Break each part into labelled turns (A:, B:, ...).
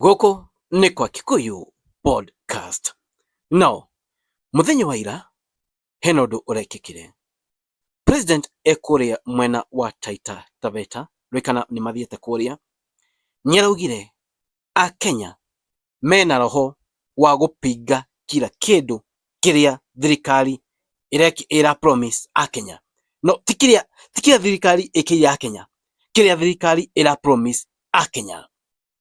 A: Gũkũ nĩ kwa Kikuyu Podcast. No, mũthenya wa ira, hena ũndũ ũrekĩkire. President e kũrĩa mwena wa Taita Taveta, rĩu kana nĩ mathiĩte kũrĩa, nĩaraugire Akenya mena roho wa gũpinga kira kĩndũ kĩrĩa thirikari ĩra promise Akenya. No, ti kĩrĩa ti kĩrĩa thirikari ĩkĩire Akenya, kĩrĩa thirikari ĩra promise Akenya.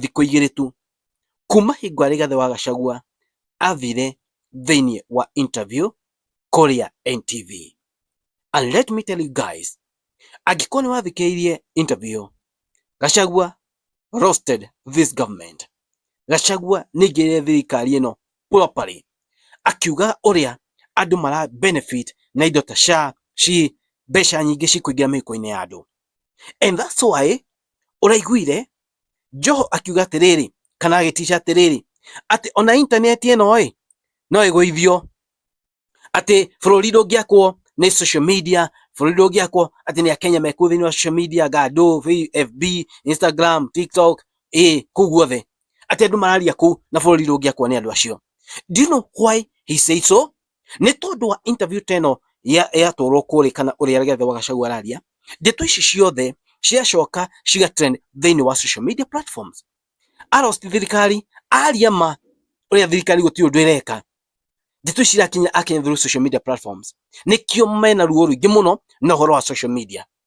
A: thikũ igĩrĩ tu kuma hingo ya Rigathi wa Gachagua athire thĩinĩ wa interview kũrĩa NTV. And let me tell you guys, angĩkorwo nĩ wathikĩrĩirie interview, Gachagua roasted this government. Gachagua nĩaingĩrĩire thirikari ĩno properly, akiuga ũrĩa andũ mara benefit na indo ta SHA, SHIF, mbeca nyingĩ cikũingĩra mĩhuko-inĩ ya andũ. And that's why ũraiguire Joho akiuga atĩrĩrĩ kana agĩticia atĩrĩrĩ atĩ ona intaneti ĩno ĩ no ĩgũithio atĩ bũrũri ndũngĩakwo nĩ social media bũrũri ndũngĩakwo atĩ nĩ akenya mekuo thĩinĩ wa social media gado fb instagram tiktok ĩ kũu guothe atĩ andũ mararia kũu na bũrũri ndũngĩakwo nĩ andũ acio do you know why he said so Nĩ tondũ wa interview ta ĩno yatwarwo kũrĩ kana ũrĩa Rigathĩ wa Gachagua araria, ndeto ici ciothe ciacoka ciga trend thĩinĩ wa social media platforms. A roast thirikari, aria ma ũrĩa thirikari gũtirĩ ũndũ ĩreka. Ndeto ici irakinya akinya through social media platforms. Nĩkĩo mena ruo rũingĩ mũno na ũhoro wa social media.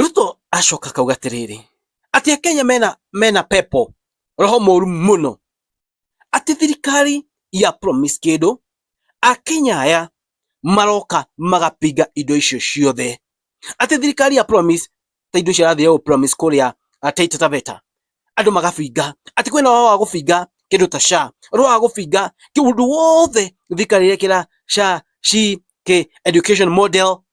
A: ruto acoka akauga atĩrĩrĩ atĩ akenya mena mena pepo roho mũru mũno atĩ thirikari ya promise kĩndũ akenya aya maroka magapinga indo icio ciothe atĩ thirikari ya promise ta indo icio arathiĩ promise kũrĩa Taita Taveta andũ magabinga atĩ kwĩna wao wa gũbinga kĩndũ ta SHA ũrĩa wa gũbinga kĩndũ wothe thirikari ĩrekĩra SHA ci kĩ education model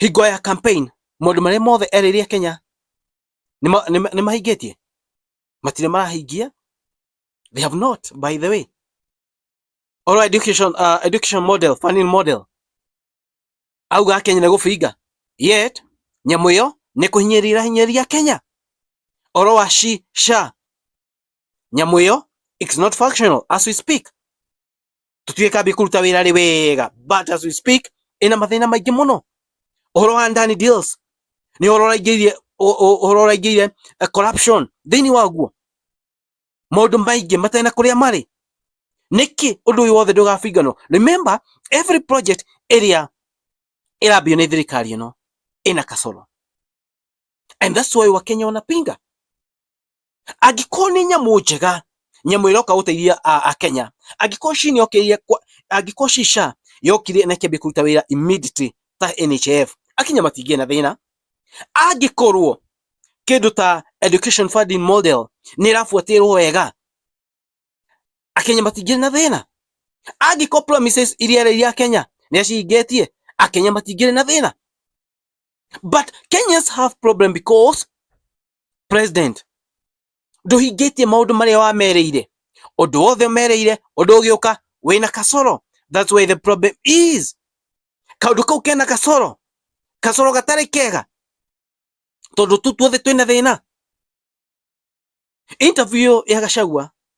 A: hingo ya campaign maũndũ marĩa mothe erĩire Kenya nĩ mahingĩtie matirĩ marahingia they have not by the way oral education uh, education model funding model auga Kenya nĩ gũbinga yet nyamũ ĩyo nĩ kũhinyĩrĩra hinyĩrĩria Kenya oro wa shi sha nyamũ ĩyo it's not functional as we speak tutuye kabi kuluta wera lewega but as we speak ina mathina maingĩ mũno ũhoro wa ndani deals nĩ ũhoro ũraingĩrire ũhoro ũraingĩrire eh, corruption thĩinĩ waguo maũndũ maingĩ matena kũrĩa marĩ nĩkĩ ũndũ ũyũ wothe ndũgabinganwo remember every project ĩrĩa ĩrambio nĩ thirikari ĩno ĩna kasoro and that's why wakenya wanapinga angĩkorwo nĩ nyamũ njega nyamũ ĩroka gũteithia akenya angĩkorwo ci nĩokĩrire angĩkorwo ci sha yokire na ĩkĩambia kũruta wĩra immediately ta NHIF akinya matingĩ na thĩna angĩkorwo kĩndũ ta education funding model nĩ ĩrabuatĩrwo wega akenya matingĩ na thĩna angĩkorwo promises iria ereire akenya nĩ acihingĩtie akenya matingĩ na thĩna but Kenyans have problem because president nduhingĩtie maundu maria wamereire undu wothe umereire undu ugiuka wina kasoro that's where the problem is kaundu kau kena kasoro kasoro gatari kega tondu tu tuothe twina thina interview ya gacagua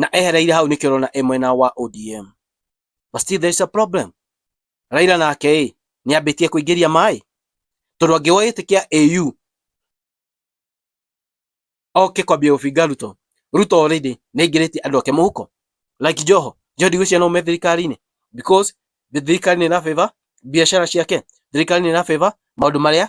A: na ehereire hau nĩkĩo ũrona e mwena wa ODM but still there is a problem Raila nake ĩ nĩambĩtie kũingĩria maĩ tondũ angĩwa ĩtĩkia AU oke kwambia gũbinga Ruto Ruto already nĩaingĩrĩtie andũ ake mũhuko like Joho Joho ndigwĩciria no me thirikari-inĩ because thirikari nĩ ĩra favor biacara ciake thirikari nĩ ĩra favor maũndũ marĩa